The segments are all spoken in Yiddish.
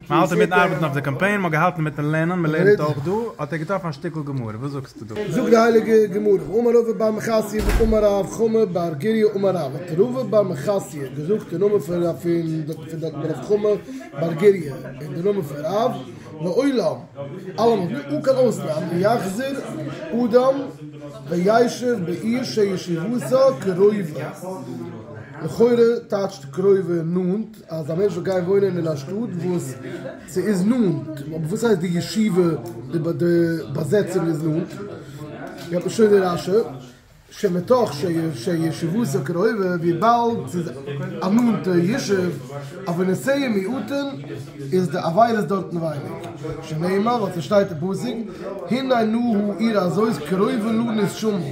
מען האלט אינמיטן ארבעטן אויף די קאמפיין, מען האט געהאלטן אינמיטן לערנען, מען לערנט אויך דא, האט ער געטראפן א שטיקל גמרא, וואס זאגסטו דא? זאגט די הייליגע גמרא, אמר רבא בר מחסיא ואמר רב חמא בר גריא אמר רב, האט רבא בר מחסיא געזאגט די נאמען פון רב חמא בר גריא און די נאמען פון רב, לעולם, אלעמאל, בלי אן קיין אויסנאם, יחזור אדם וישב בעיר שישיבותו קרובה, לכאורה טייטשט קרובה נאנט. אז א מענטש זאל גיין וואוינען אין א שטאט וואס ס'איז נאנט, אבער וואס הייסט די ישיבה, די באזעצער איז נאנט, געט מען שוין די רשי ש מתוך שישבותו קרובה, וויבאלד ס'איז א נאנטע ישוב, אבער נסיעה מיעוטין איז די עבירות דארטן ווייניג, שנאמר, ווייל ס'שטייט אין פסוק, הנה נא הוא עיר הזאת קרובה לנו שומרה.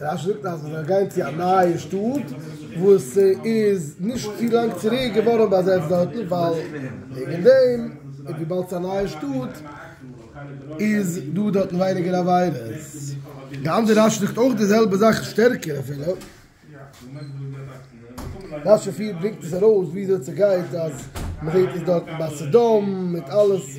רשי זאגט אז מיר גייען צו א נייע שטאט וואס איז נישט צו לאנג צוריק געווארן באזעצט דארטן ווייל וועגן דעם און וויבאלד ס'איז א נייע שטאט איז דא דארטן ווייניגער עבירות. די אנדערע רשי זאגט אויך די זעלבע זאך שטערקער אפילו. רשי פיר ברענגט עס ארויס וויאזוי ס'גייט אז מ'זעט עס דארטן ביי סדום מיט אלעס.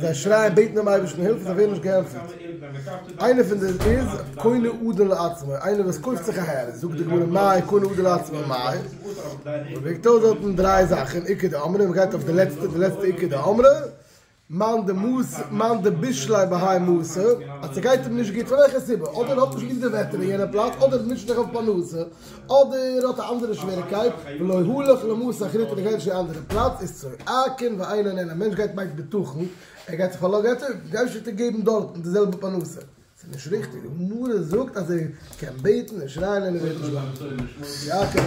זיי שרייען בעטן דעם אייבערשטן הילף און זיי ווערן נישט געענטפערט, איינער פון די איז קונה אדון לעצמו, איינער וואס קויפט זיך אהער, זאגט די גמרא מאי קונה אדון לעצמו מאי, מען וועגט אויס דארט דריי זאכן, עיקר דאמרי, מען גייט אויף די לעצטע, די לעצטע עיקר דאמרי, מאן דמס' מאן דבישלאי בהאי מס', אז ס'גייט אים נישט גוט פון וועלכע סיבה, אדער ער האט נישט ליב די וועטער אין יענע פלאץ, אדער ער מוטשעט זיך אויף פרנסה, אדער האט א אנדערע שוועריקייט, ולא הלך למות אחרית און ער גייט נישט אין א אנדערע פלאץ, איז צו אקן ואין און אין, א מענטש גייט מיינט בטחון, ער גייט זיך פארלאגערן טוב, איך גיי נישט אונטערגעבן דארטן די זעלבע פרנסה, ס'איז נישט ריכטיג, הגמרא זאגט אז ער קען בעטן און שרייען און ער ווערט נישט באהאנדלט, צו אקן.